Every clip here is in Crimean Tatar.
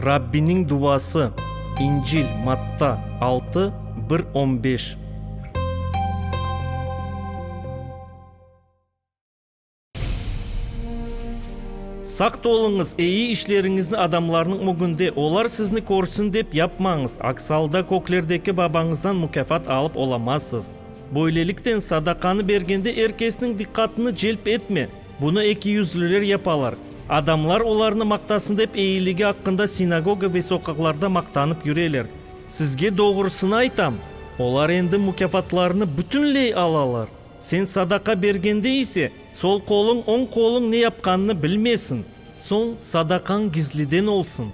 Rabbiniñ duvası, İncil, Matta, altı, bir on beş. Saq toluñız, eyi işleriñizni adamlarnıñ ögünde, olar sizni körsin dep yapmañız, aks alda köklerdeki Babañızdan mukâfat alıp olamazsız. Böylelikten, sadaqanı bergende er kesniñ diqqatını celp etme. Bunı ekiyüzlüler yapalar. Adamlar olarnı maqtasın dep eyiligi aqqında sinagoga ve soqaqlarda maqtanıp yüreler. Sizge doğrusını aytam, olar endi mukâfatlarını bütünley alalar. Sen sadaqa bergende ise, sol qoluñ, oñ qoluñ ne yapqanını bilmesin. Soñ sadaqañ gizliden olsun.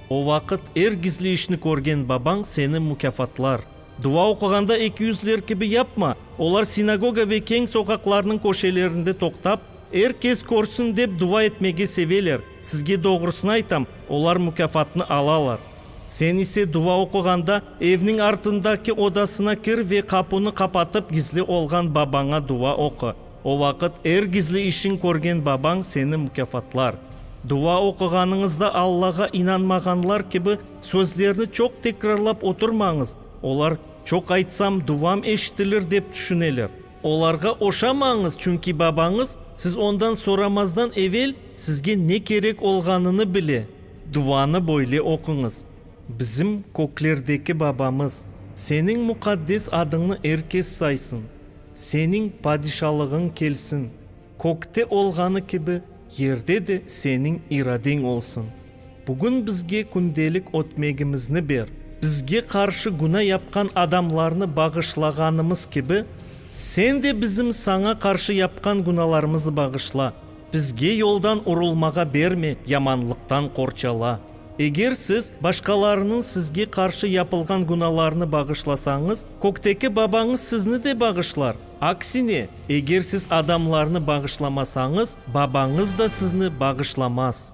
O vaqıt er gizli işni körgen Babañ seni mukâfatlar. Dua oquğanda eki yüzliler kibi yapma, olar sinagoga ve keñ soqaqlarnıñ köşelerinde toqtap, er kes körsin dep dua etmege seveler, sizge doğrusını aytam, olar mukâfatnı alalar. Sen ise dua oquğanda, evniñ artındaki odasına kir ve qapunı qapatıp gizli olğan Babaña dua oqu, o vaqıt er gizli işiñ körgen Babañ seni mukâfatlar. Dua oquğanıñızda Allağa inanmağanlar kibi Sözlerni çoq tekrarlap oturmañız, olar çoq aytsam duvam eşitilir dep tüşüneler. Olarğa oşamañız, çünki babañız siz ondan soramazdan evel sizge ne kerek olğanını bile. Duvanı böyle oquñız, Bizim köklerdeki Babamız, Seniñ muqaddes adıñnı er kes saysın. Seniñ padişalığıñ kelsin. Kökte olğanı kibi, yerde de seniñ iradeñ olsun. Bugün bizge kündelik ötmegimizni ber. Bizge qarşı günâ yapqan adamlarnı bağışlağanımız kibi, sen de bizim saña qarşı yapqan günâlarımızı bağışla. Bizge yoldan urulmağa berme, yamanlıqtan qorçala. Eger siz başqalarınıñ sizge qarşı yapılğan günâlarını bağışlasañız, kökteki Babañız sizni de bağışlar. Aksine, eger siz adamlarnı bağışlamasañız, Babañız da sizni bağışlamaz.